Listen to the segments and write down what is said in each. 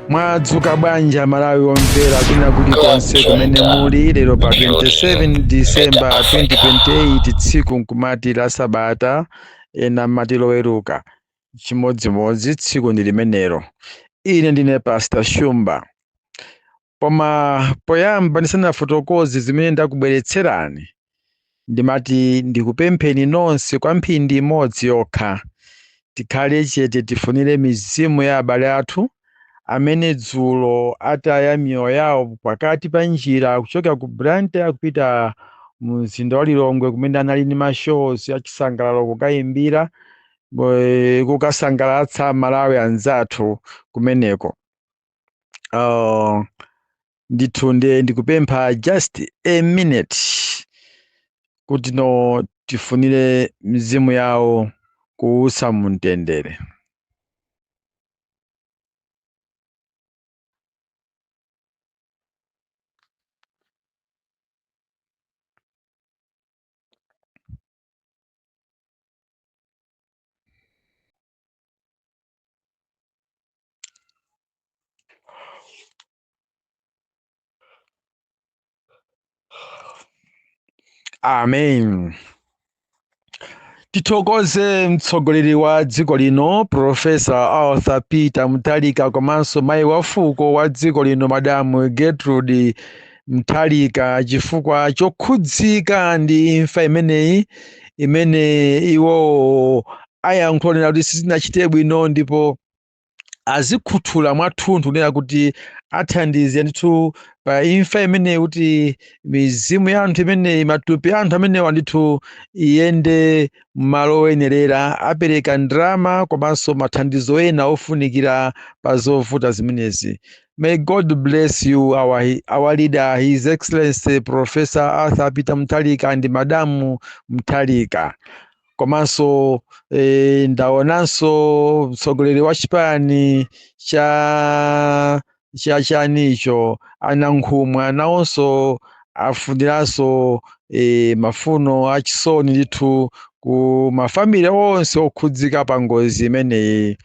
mwadzuka bwanji malawi omvera kwina kulikonse kumene muli lero pa 27 disemba 2028 tsiku nkumati la sabata ena mati loweruka chimodzimodzi tsiku ndi limenelo ine ndine pastor shumba Koma poyamba ndisanafotokoze zimene ndakubweretserani, ndimati ndikupempheni nonse kwa mphindi imodzi yokha tikhale chete tifunire mizimu ya abale athu amene dzulo ataya miyoyo yawo pakati pa njira kuchoka ku Blantyre akupita mu mzinda wa Lilongwe kumene anali ndi mashows achisangalalo kukayimbira kukasangalatsa Malawi anzathu kumeneko. oh, ndithu ndiye ndikupempha just a minute kuti no tifunire mizimu yawo kuusa mumtendere amen tithokoze mtsogoleri wa dziko lino profesa arthur peter mutharika komanso mayi wa fuko wa dziko lino madamu gertrude Mutharika chifukwa chokhudzika ndi imfa imeneyi imene iwowo ayankhula kunena kuti sizinachite bwino ndipo azikhuthula mwathunthu kunena kuti athandize ndithu pa imfa imeneyi kuti mizimu ya anthu imeneyi matupi a anthu amenewa ndithu iyende m'malo oyenerera apereka ndalama komanso mathandizo ena ofunikira pa zovuta zimenezi May God bless you, our, he- our leader, His Excellency Professor Arthur Peter Mutharika and Madamu Mutharika. Komanso eh, ndaonanso mtsogoleri wa chipani cha cha chanicho anankhumwa nawonso afuniranso eh, mafuno achisoni ndithu ku mafamili onse okhudzika pa ngozi imeneyi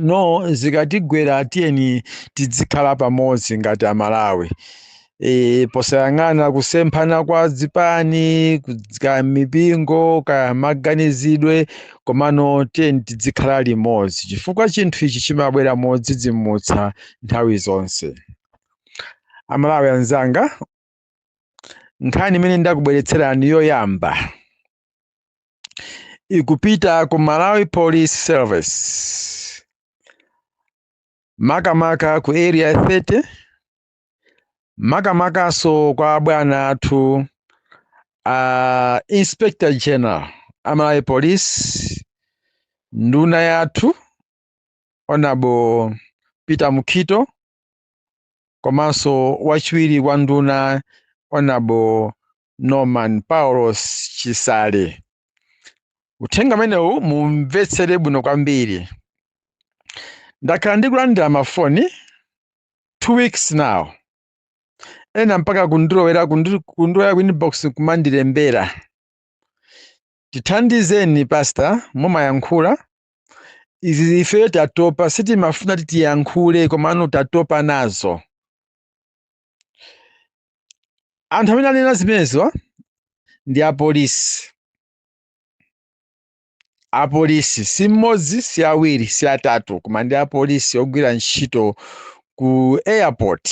no zikatigwera tiyeni tidzikhala pamodzi ngati amalawi e, posayang'ana kusemphana kwa zipani kudz- kaya mipingo kaya maganizidwe komano tiyeni tidzikhala limodzi chifukwa chinthu ichi chimabwera modzidzimutsa nthawi zonse amalawi anzanga nkhani imene ndakubweretserani yoyamba ikupita ku malawi police service makamaka ku area 30 makamakanso kwa abwana athu a inspector general a malawi police nduna yathu honorable peter mukhito komanso wachiwiri kwa nduna honorable norman paulos chisale uthenga umenewu mumvetsere bwino kwambiri ndakhala ndikulandira mafoni two weeks now ena mpaka kundilowera ku inbox kumandilembera tithandizeni pastor mumayankhula izi ife tatopa sitimafuna titiyankhule komano tatopa nazo anthu amene anena zimenezo ndi apolisi apolisi si mmodzi si awiri si atatu koma ndi apolisi ogwira ntchito ku airport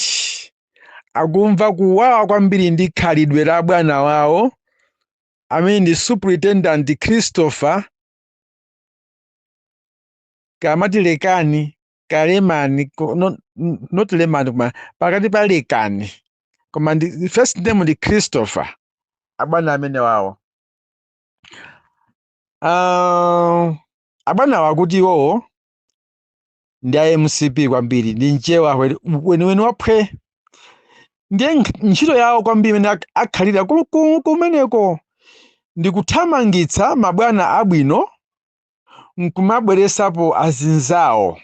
akumva kuwawa kwambiri ndi khalidwe la bwana wawo amene ndi superintendent christopher kamatilekani kalemani not lemani koma pakati pa lekani koma ndi first name ndi christopher abwana amene wawo Ah, abwana awa kuti iwowo ndi a mcp kwambiri ndi mchewa weniweni waphwe ndiye ntchito yawo kwambiri imene akhalira kumeneko ndi kuthamangitsa mabwana abwino nkumabweresapo azinzawo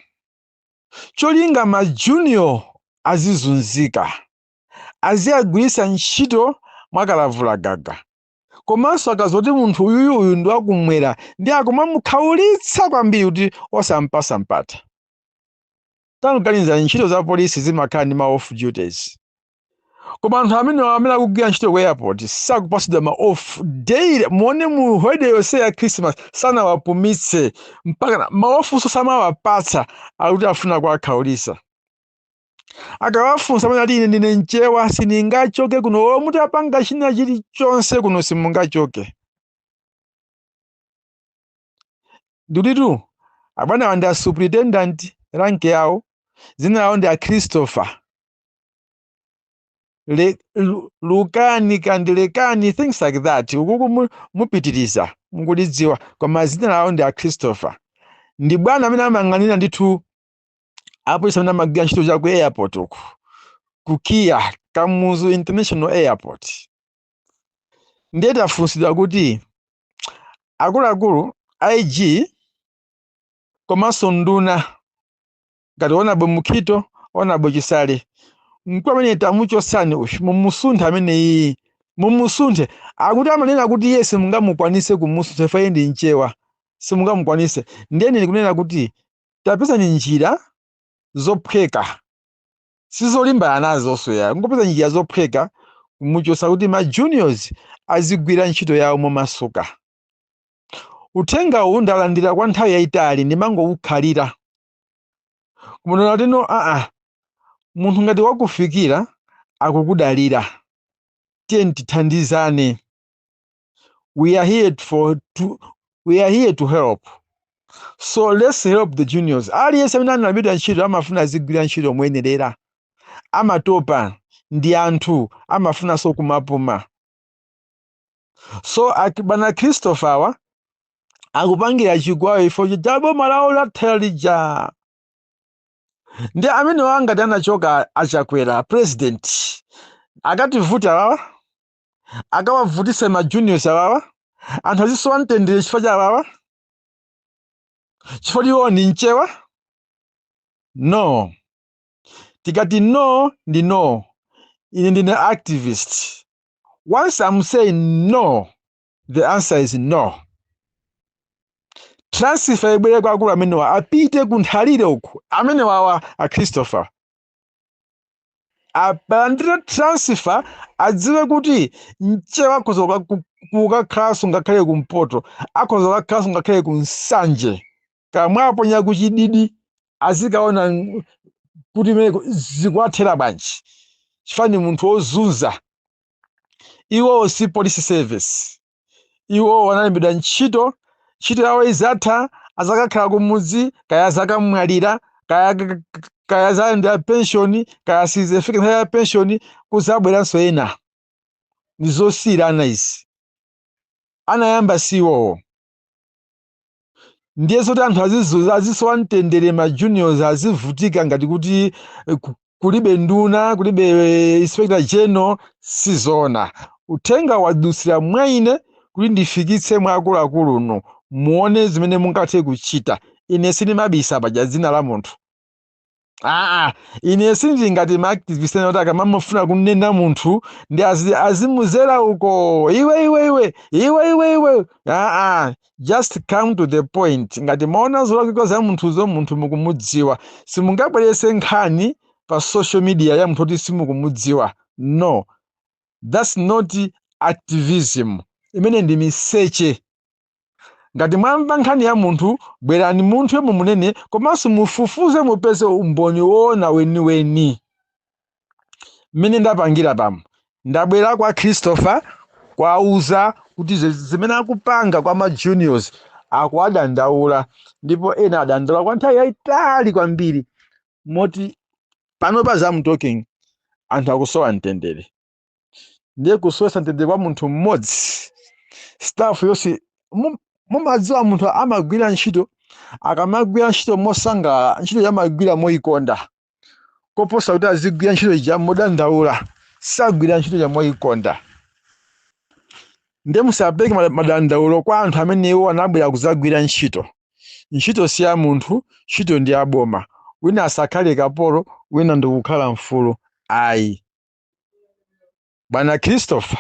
cholinga ma junior azizunzika aziwagwiritsa ntchito mwakalavula gaga komanso akaziwa kuti munthu uyuyu uyu ndi wakumwera ndi akumamukhaulitsa kwambiri kuti osampasa mpata tangoganizani ntchito za polisi zimakhala ndi ma off duties koma anthu amenewa amene akugwira ntchito ku airport sakupatsidwa ma off daily muone mu holiday yonse ya christmas sanawapumitse mpaka ma offnso samawapatsa akuti afuna kuwakhaulisa akawafunsa amene ati ine ndine mchewa sindingachoke kuno olo muti apanga china chilichonse kuno simungachoke ndithu abwanawa ndi a superintendent rank yawo dzina lawo ndi a christopher Le, lu- lukani kandilekani things like that ukukumu- mupitiriza mukulidziwa koma zina lawo ndi a christopher ndi bwana amene amayang'anira ndithu apolisi amene amagwira ntchito za ku airport uku ku kia kamuzu international airport ndiye tafunsidwa kuti akuluakulu ig komanso nduna ngati honourable mukhito honourable chisale mkulu amene tamuchosani uyu mumusunthe ameneyi mumusunthe akuti amanena kuti iye simungamukwanise kumusuntha ifo iye ndi mchewa simungamukwanise ndiye ndili kunena kuti tapezani njira zophweka sizolimbana nazonso yangopezani njira zophweka kumuchosa kuti ma juniors azigwira ntchito yawo momasuka uthenga uwu ndalandira kwa nthawi yayitali ndimangowukhalira koma ndinaona kuti no aa munthu ngati wakufikira akukudalira tiyeni tithandizane we are here for to, we are here to help so let's help the juniors aliyense amene analembedwa ntchito amafuna azigwira ntchito moyenerera amatopa ndi anthu amafunanso kumapuma so ati bwana christopher awa akupangira chifukwa iwowo chifukwa cha boma lawo latha lija ndi amene wa anati anachoka achakwera president akativutitse awawa akawavutise ma juniors awawa anthu azisowa mtendere chifukwa cha awawa chifukwa iwo ni mchewa no tikati no ndi no ine ndine activist Once I'm saying no, the answer is no. Transfer ibwere kwa akulu amenewa apite ku nthalire uku amenewawa a Christopher apa alandire transfer adziwe kuti mchewa akhoza kuka- ku- kukakhalanso ngakhale kumpoto akhoza kukakhalanso ngakhale ku nsanje kaya mwaponya kuchididi azikaona ng- kuti imeneko zikuwathera bwanji chifukwa ndi munthu wozunza iwowo si police service iwowo analembedwa ntchito ntchito yawo izatha azakakhala kumudzi kaya azakamwalira kaya k- k- kaya azalandira penshoni kaya sizifika nthawi ya penshoni kuzabweranso ena ndi zosiyirana izi anayamba si iwowo ndiye zoti anthu azizu- azisowa mtendere ma juniors azivutika ngati kuti eh, ku- kulibe nduna kulibe eh, inspector general sizona uthenga wadusira mwa ine kuti ndifikitse mwa akuluakulu inu muone zimene mungathe kuchita ine sindimabisa paja dzina la munthu aa ine sindili ngati ma activist ena kuti akamafuna kunena munthu ndi azi- azimuzera uko iwe iwe iwe iwe iwe iwe aa just come to the point ngati mwaona zolakwika za munthuzo munthu mukumudziwa simungabwerese nkhani pa social media ya munthu kuti simukumudziwa no that's not activism imene ndi miseche Ngati mwamva nkhani ya munthu, bwerani munthuyo mumunene komanso mufufuze mupeze umboni woona weniweni. Mmene ndapangira pano, ndabwera kwa Christopher kuwauza kuti zimene akupanga kwa ma juniors akuwadandaula ndipo ena adandaula kwa nthawi yayitali kwambiri moti panopa as I'm talking anthu akusowa mtendere. ndiye kusowetsa mtendere kwa munthu mmodzi staff yonse mu- mumadziwa munthu amagwira ntchito akamagwira ntchito mosangalala ntchitoyo amagwira moyikonda koposa kuti azigwira ntchito ija modandaula sagwira ntchito ija moyikonda ndiye musapereke mada- madandaulo kwa anthu amene iwo anabwera kudzagwira ntchito ntchito si ya munthu ntchito ndi ya boma wina asakhale kapolo wina ndikukhala mfulu ayi bwana christopher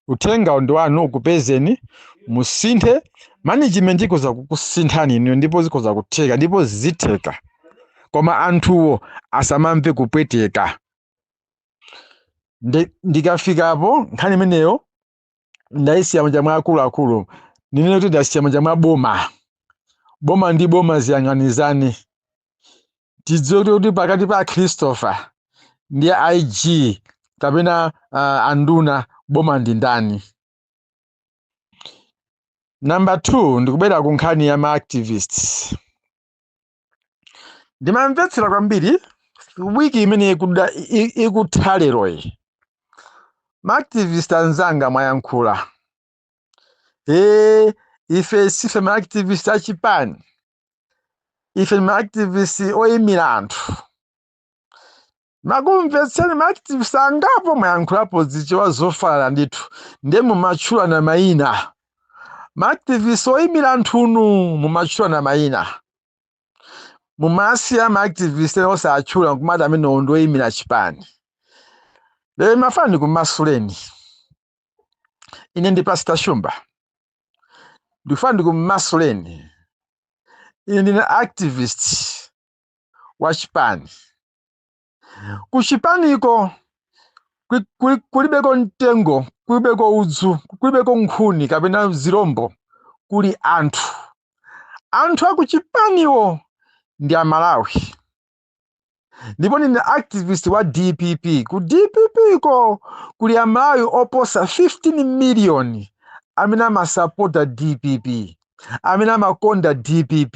uthengawu ndi wanu ukupezeni musinthe management ikoza kukusinthani inuyo ndipo zikoza kutheka ndipo zitheka koma anthuwo asamamve kupweteka Ndi- ndikafikapo nkhani imeneyo ndayisiya m'manja mwa akuluakulu ndinene kuti ndayisiya m'manja mwa boma boma ndi boma ziyang'anizane tidziwe kuti kuti pakati pa a christopher ndi ig kapena uh, anduna boma ndi ndani number 2 ndikubwera ku nkhani ya ma activists ndimamvetsera kwambiri wiki imene ikuda- i- i- ikutha leroyi ma activist anzanga mwayankhula ee ife sife ma activist achipani ife ndi ma activist oyimira anthu ndakumvetserani ma activist angapo mwayankhulapo zichewa zofala ndithu nde mumatchulana mayina ma activist oyimira anthunu mumatchulana mayina mumasiya ma activist ena osatchula nkumati amenewo ndi oyimira chipani lero ndimafuna ndikumasuleni ine ndi pastor shumba ndikufuna ndikumasuleni ine ndine activist wa chipani ku chipaniko kuli- kuli- kulibeko mtengo kulibeko udzu kulibeko nkhuni kapena zirombo kuli anthu anthu akuchipaniwo ndi amalawi ndipo ndine activist wa dpp ku dpp ko kuli amalawi oposa 15 million amene amasapota dpp amene amakonda dpp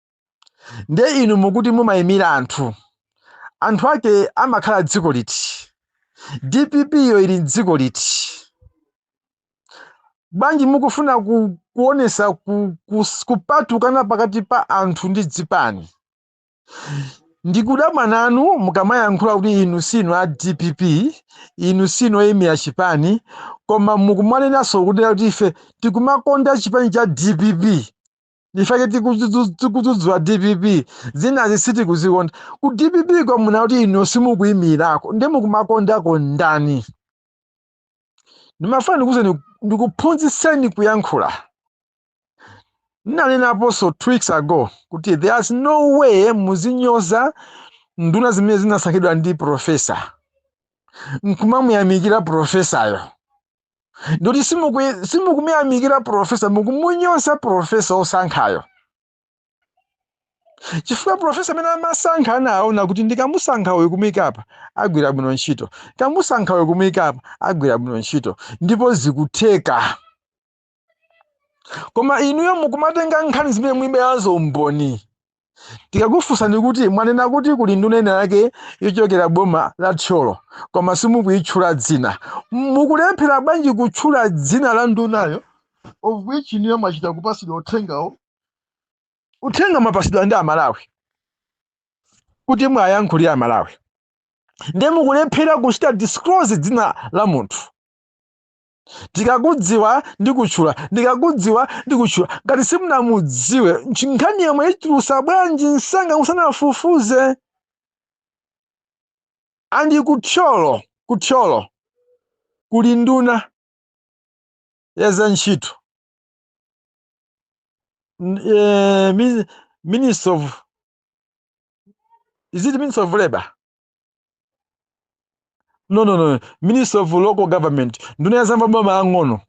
ndiye inu mukuti mumayimira anthu anthu ake amakhala dziko liti dpp yo ili mdziko liti bwanji mukufuna ku, kuonesa ku, ku, kupatukana pakati pa anthu ndi dzipani ndikudabwa nanu mukamayankhula kuti inu sinu a dpp inu sinu oyimira chipani koma mukumanenanso kuti kuti ife tikumakonda chipani cha dpp nchifukwa chake tikudzudzula dpp zinazi sitikuzikonda ku dpp ko mwanena kuti inu simukuyimirako ndiye mukumakondako ndani ndimafuna ndikuuzeni ndikuphunzitseni kuyankhula ndinanenaso two weeks ago kuti there's no way muzinyoza nduna zimene zinasankhidwa ndi profesa nkumamuyamikira profesayo ndikuti simuku- simukumuyamikira profesa mukumunyoza profesa osankhayo chifukwa profesa amene amasankha anaona kuti ndikamusankha uyu kumuyika apa agwira bwino ntchito kamusankha uyu kumuyika apa agwira bwino ntchito ndipo zikutheka koma inuyo mukumatenga nkhani zimene mulibenazo umboni tikakufunsani kuti mwanena kuti kuli nduna ina yake yochokera boma la thyolo koma simukuyitchula dzina mukulephera bwanji kutchula dzina la ndunayo of which inuyo mwachita kupasidwa uthengawo uthenga mwapasidwa ndi amalawi kuti muwayankhulire amalawi ndiye mukulephera kuchita disclose dzina la munthu ndikakudziwa ndikutchula ndikakudziwa ndikutchula ngati simunamudziwe nchi- nkhani yo mwayitulusa bwanji msanga musanafufuze andi kuthyolo kuthyolo kuli nduna ya za ntchito N- eh, min- minister of is it minister of labor no no no minister of local government nduna ya zamaboma ang'ono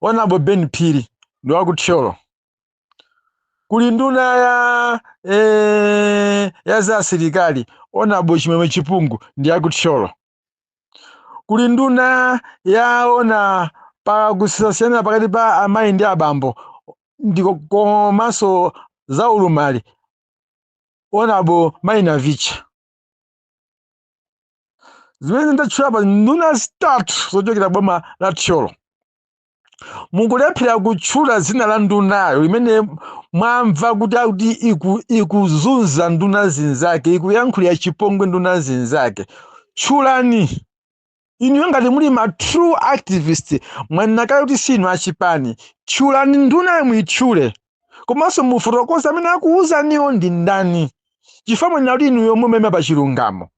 honorable ben phiri ndi wakuthyolo kuli nduna ya eh, ya za asilikali honorable chimwemwe chipungu ndi wakuthyolo kuli nduna yoona pa kusiyana pakati pa amayi ndi abambo ndiko komanso za ulumali honorable mai navicha zimene ndatchula pa nduna zitatu zochokera boma la thyolo mukulephera kutchula dzina la ndunayo imene mwamva kuti akuti iku- ikuzunza nduna zinzake ikuyankhulira chipongwe nduna zinzake tchulani inuyo ngati muli ma true activist mwanena kale kuti si inu achipani tchulani ndunayo muitchule komanso mufotokoze amene akuwuzaniwo ndi ndani chifukwa mwanena kuti inuyo mumaima pa chilungamo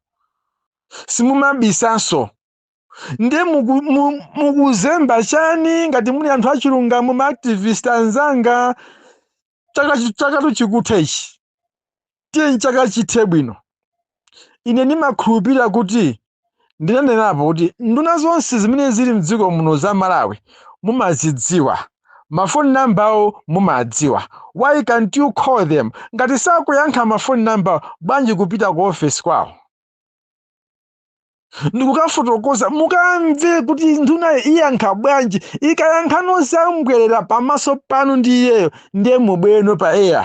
simumabisanso ndiye muku- mu- mukuzemba chani ngati muli anthu achilungamo ma activist anzanga chaka chi- chakatu chikutha ichi tiye chaka chithe bwino ine ndimakhulupirira kuti ndinanenapo kuti nduna zonse zimene zili mdziko muno za malawi mumazidziwa mafoni namba awo mumawadziwa why can't you call them ngati sakuyankha mafoni namba awo bwanji kupita ku ofesi kwawo ndikukafotokoza mukamve kuti ndunayo iyankha bwanji ikayankha nozambwerera pamaso panu ndi iyeyo ndiye mubwereno pa eya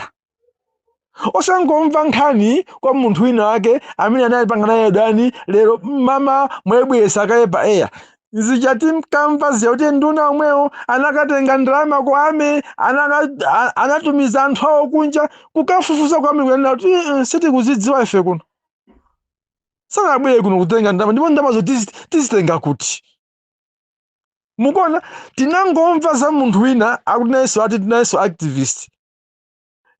osangomva nkhani kwa munthu wina wake amene anapangana naye dani lero mmawa mwabweretsa kaye pa eya zichati mkamva ziyauti nduna omwewo anakatenga ndalama kwa army anaka- a- anatumiza anthu awo kunja kukafufuza kwa army kukananena kuti "Eh, eh, sitikuzidziwa ife kuno sanabwere kuno kutenga ndalama ndipo ndalamazo tizi- tizitenga kuti mukuona tinangomva za munthu wina akuti nayenso ati nayenso activist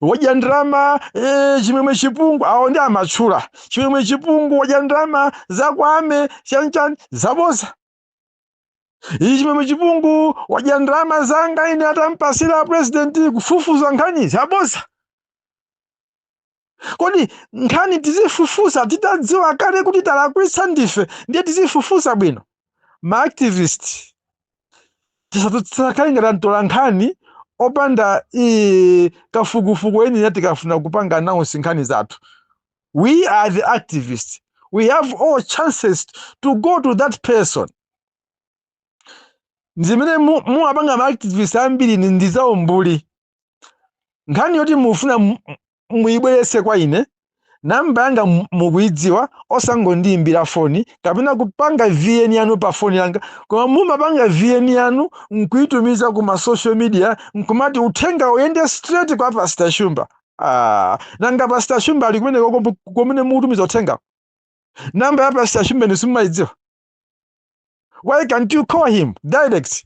wadya ndalama eh, chimwemwe chipungu awo ndi amatchula chimwemwe chipungu wadya ndalama za kwa army chanchani zaboza iyi chimwemwe chipungu wadya ndalama zanga ine atampasira president kufufuza nkhani zaboza kodi nkhani tizifufuza titadziwa kale kuti talakwitsa ndife ndiye tizifufuza bwino maactivist tisamakhale ngati antola nkhani opanda eh, kafukufuku eni eni tikafuna kupanga announce nkhani zathu we are the activists we have all chances to go to that person zimene mu- mumapanga maactivist ambiri ni- ndi zaumbuli nkhani yoti mufuna muyibweretse kwa ine namba yanga mukuyidziwa osangondiyimbira foni kapena kupanga vn yanu pa foni yanga koma mumapanga vn yanu nkuyitumiza ku ma social media nkumati uthenga uyende straight kwa pastor shumba ah, nanga pastor shumba ali kumeneko komwe mukutumiza uthenga namba ya pastor shumba inu simumayidziwa why can't you call him direct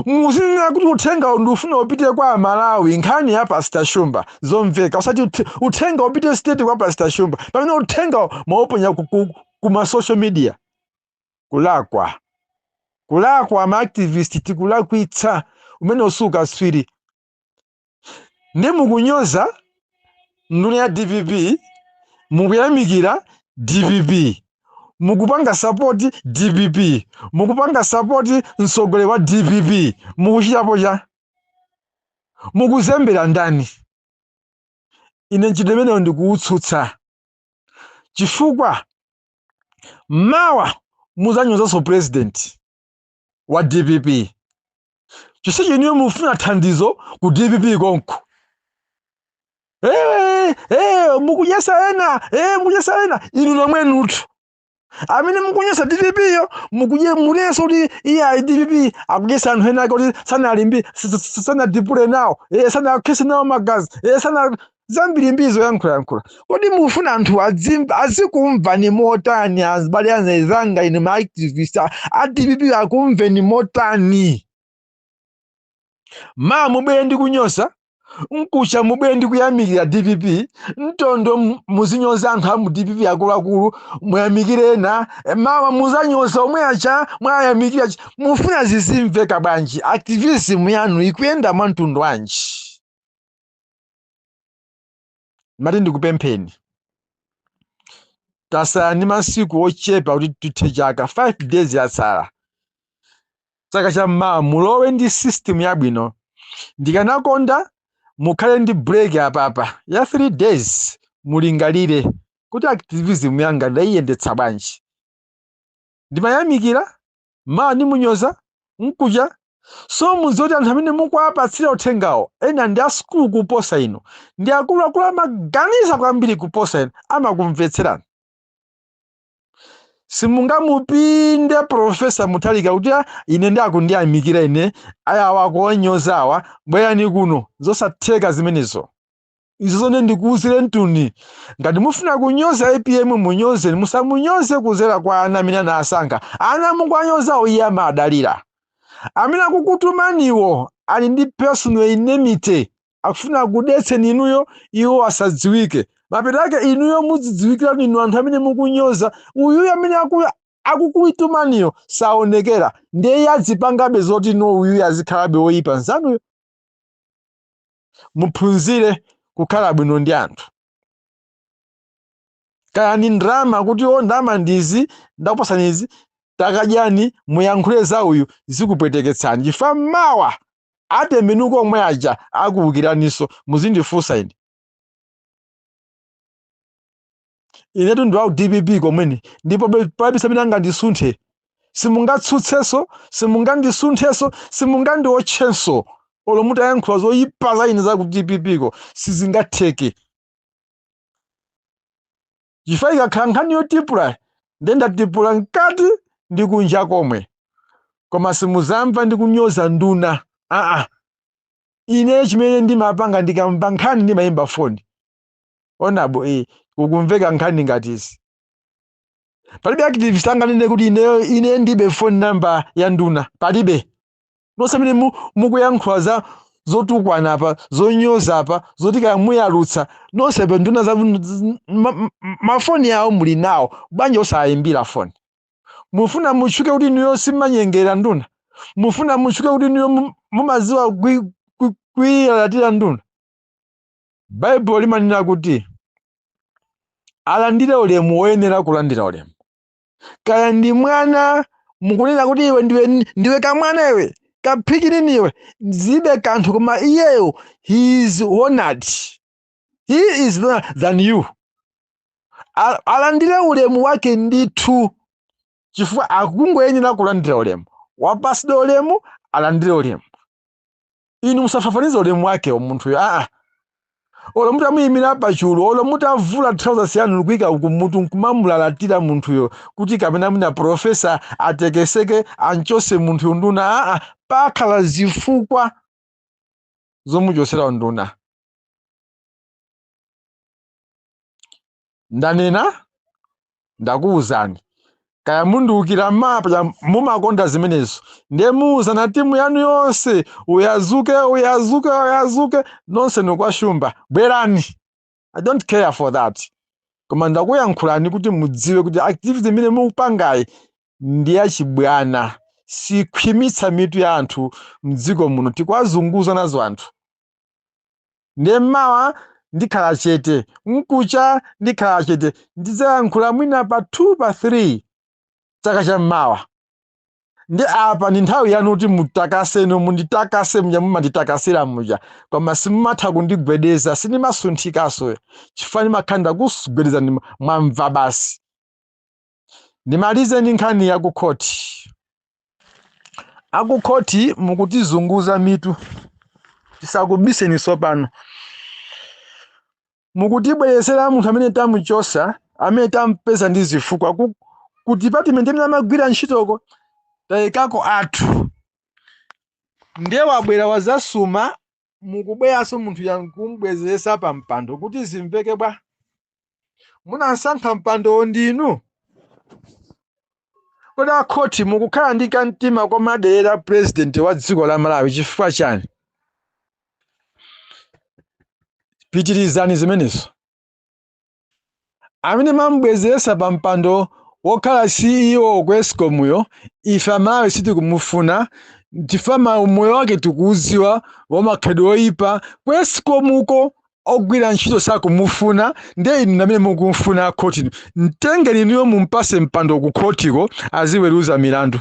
muzinena kuti uthenga ndifuna upite kwa amalawi nkhani ya pastor shumba zomveka usati uthe- uthenga upite straight kwa pastor shumba pamene uthenga mwauponya ku, ku, ku ma social media kulakwa kulakwa ma activist tikulakwitsa umene usuka swiri ndi mukunyoza nduna ya dpp mukuyamikira dpp mukupanga sapoti dpp mukupanga sapoti mtsogoleri wa dpp mukuchitapo cha mukuzembera ndani ine mchitidwe umenewo ndikuutsutsa chifukwa mawa muzanyozanso president wa dpp chonsecho inuyo mufuna thandizo ku dpp konko Eh, eh, mukudyetsa ena eh, mukudyetsa ena inu nomwenutu amene mukunyoza dpp yo mukunye munenso kuti iye ayi dpp akudyetsa anthu ena ake kuti sanalimbi s- s- s- sanadipule nawo eh, sanakhetse nawo magazi eh, sana zambirimbiri zoyankhulayankhula kodi mufuna anthu adzim- azikumvani motani azibale anzanga ine maactivist a a dpp akumveni motani mawa mubwere ndi kunyoza mkuja mubwere ndi kuyamikira dpp mtondo m- muzinyoza anthu a mu dpp akuluakulu muyamikire ena e, mawa muzanyoza omwe aja mwayamikira aja. mufuna zizimveka bwanji activism yanu ikuyenda mwa mtundu wanji mati ndikupempheni tatsala ndi masiku ochepa kuti tithe chaka 5 days yatsala chaka cha mmawa mulowe ndi system yabwino ndikanakonda mukhale ndi break apapa ya 3 days mulingalire kuti activism yanga ndayiyendetsa bwanji ndimuyamikira mawa ndimunyoza mkuja so mudziwe kuti anthu amene mukuwapatsira uthengawo ena ndi asukulu kuposa inu ndi akuluakulu amaganiza kwambiri kuposa inu amakumvetserani simungamupinde profesa mutharika kuti "Ah, ine ndi akundiyamikira ine awawa kuonyozawa bwerani kuno zosatheka zimenezo izo zone ndikuuzire Ntuni ngati mufuna kunyoza apm munyoze musamunyoze kuzera kwa ana amene anasankha ana mukuwanyozawo iye amadalira amene akukutumaniwo ali ndi personal enmity akufuna kudetseni inuyo iwo asadziwike mapeto ake inuyo mudzidziwikira inu anthu amene mukunyoza uyuyo amene aku- akukutumaniyo saonekera ndiye iye adzipangabe zoti no uyuyo azikhalabe woyipa nzanuyo muphunzire kukhala bwino ndi anthu kaya ndi ndalama kuti o ndama ndizi ndakupasani izi takadyani muyankhule za uyu zikupweteketsani chifukwa mawa atembenuka omwe aja akuwukiraniso muzindifunsa ine inetu ndi wa ku DPP komwene ndipo be- palibe amene angandisunthe simungatsutsenso simungandisunthenso simungandiotchenso olo mutayankhula zoyipa za ine za ku DPP ko sizingatheke chifukwa ikakhala nkhani yotipula nde ndatipula mkati ndi kunja komwe koma simuzamva ndikunyoza nduna aa ine chimene ndimapanga ndikamva nkhani ndimayimba foni onabo eh, kukumveka nkhani ngati izi palibe activist anganene kuti ine ndibe phone number ya nduna palibe nonse amene mu- mukuyankhula za zotukwana apa zonyoza apa zoti kaya muyalutsa nonse pa nduna za z- ma- ma- mafoni awo muli nawo bwanji osayimbira foni mufuna mutchuke kuti inuyo simmanyengera nduna mufuna mutchuke kuti inuyo mu- mumadziwa kwi- kwi- kuilalatira nduna baibulo limanena kuti alandire ulemu woyenera kulandira ulemu kaya ndi mwana mukunena kuti iwe ndiwe, ndiwe kamwana iwe ka pikinini iwe zibe kanthu koma iyeyo he is honored he is honored than you A- alandire ulemu wake ndithu chifukwa akungoyenera kulandira ulemu wapasidwa ulemu alandire ulemu inu musafafanize ulemu wake wa munthuyo aa olo mutamuyimira pachulu olo mutavula trousers yanu nkuika kumutu nkumamulalatira munthuyo kuti kapena mwina profesa atekeseke anchose munthuyo nduna aa pakhala zifukwa zomuchosera unduna ndanena ndakuwuzani kaya mundiwukira mapya mumakonda zimenezo ndiye muwuzane timu yanu yonse uyazuke uyazuke uyazuke nonse nikwashumba bwerani i don't care for that koma ndakuyankhulani kuti mudziwe kuti activity imene mukupangayi ndi yachibwana sikhwimitsa mitu ya anthu mdziko muno tikuwazunguza nazo anthu Ndiye mmawa ndikhala chete, mkucha ndikhala chete, ndidzayankhula mwina pa 2 pa 3 chaka cha mmawa. Ndi apa ndi nthawi yanu kuti mutakase, munditakase muja mumanditakasira muja, koma simumatha kundigwedeza, sindimasunthikanso chifukwa ndimakhala ndakugwedezani mwamva basi. ndimalize ndi nkhani ya kukhoti akukhoti mukutizunguza mitu tisakubiseni tsopano mukutibweresera munthu amene tamuchosa amene tampeza ndi zifukwa ku department imene amagwira ntchitoko tayikako athu ndiye wabwera wazasuma mukubweranso munthu uja nkumbwezeretsa pa mpando kuti zimveke bwanji munamsankha mpandowo ndinu kodi akhoti mukukhala ndi kamtima komuderera purezidenti wa dziko la malawi chifukwa chani pitirizani zimenezo amene mwamubwezeresa pa mpando wokhala CEO ku Escom yo ife amalawi sitikumufuna chifukwa umoyo wake tikuuziwa wamakhalidwe oyipa ku Escom uko ogwira ntchito sakumufuna nde inu ndamene mukumfuna akhotinu mtengeni inuyo mumpase mpando ku khotiko aziweruza milandu